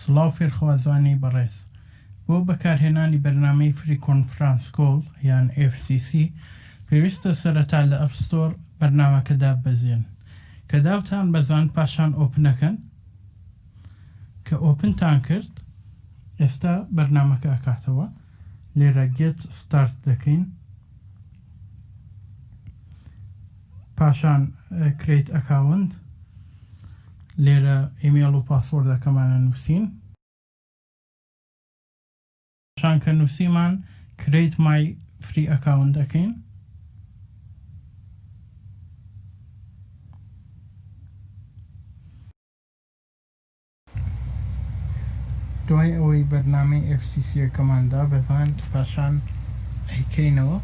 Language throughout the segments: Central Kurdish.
سڵاو فێرخوازانی بەڕێز، بۆ بەکارهێنانی بەرنامەی Free Conference Call یان FCC پێویستە سەرەتا لە App Store بەرنامەکە داببەزێن کە داوتان بەزاند پاشان ئۆپنەکەن کە ئۆپنتان کرد ئێستا بەرنامەکە ئەکاتەوە. لێرە گێت ستارت دەکەین پاشان کرەیت ئەکاونت لێرە ئیمێڵ و پاسۆردەکەمانە نووسین پاشان کە نووسیمان کرەیت مای فری ئەکاونت دەکەین دوای ئەوەی بەرنامەی ئێف سی سییەکەمان دابەزاند پاشان ئەیکەینەوە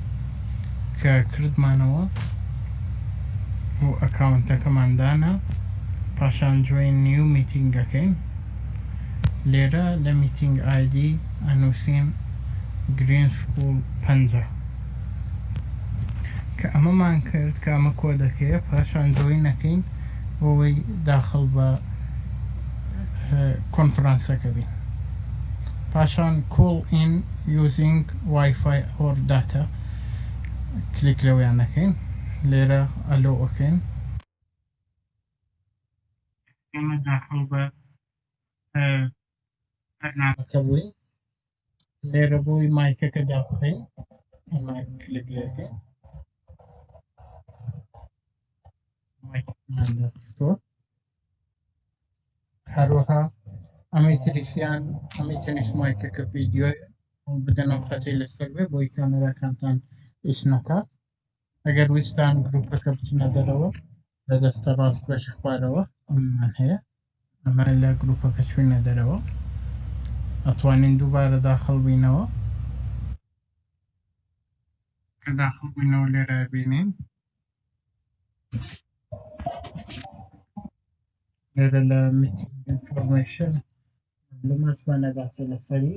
کە کردمانەوە و ئەکاونتەکەمان دانا پاشان جۆین نیو میتینگ ئەکەین لێرە لە میتینگ ئایدی ئەنوسین گرین سکوڵ پەنجا. کە ئەمەمان کرد کە ئەمە کۆدەکەیە پاشان جۆین نەکەین بۆی داخل بە کۆنفرانسەکە بین پاشان کۆڵ ئین یوزینگ وایفای ئۆر داتا کلیک لەوەیان نەکەین لێرە ئەلۆ ئۆکەین ئێمە داخل بە بەرنامەکە بووین لێرە بۆی مایکەکە داخین کلک لێکە هەروەها ئەمەی تریشیان ئەمەی تەنیش مایکەکە ڤیددیۆ بدەنەوە خەتی لەسەر بێ بۆی کامێراکانتان ئیش نەکات ئەگەر ویستان گروپەکە بچنە دەرەوە لە دەستە ڕاست بەشی خوارەوە ئەممان هەیە ئەمە لە گروپەکە چوینە دەرەوە ئەتوانین دووبارە داخڵ بینەوە کە داخڵ بووینەوە لێرە بینین لێرە لە میتینگ ئینفۆرمەیشن لەمەشمانە باسە لەسەری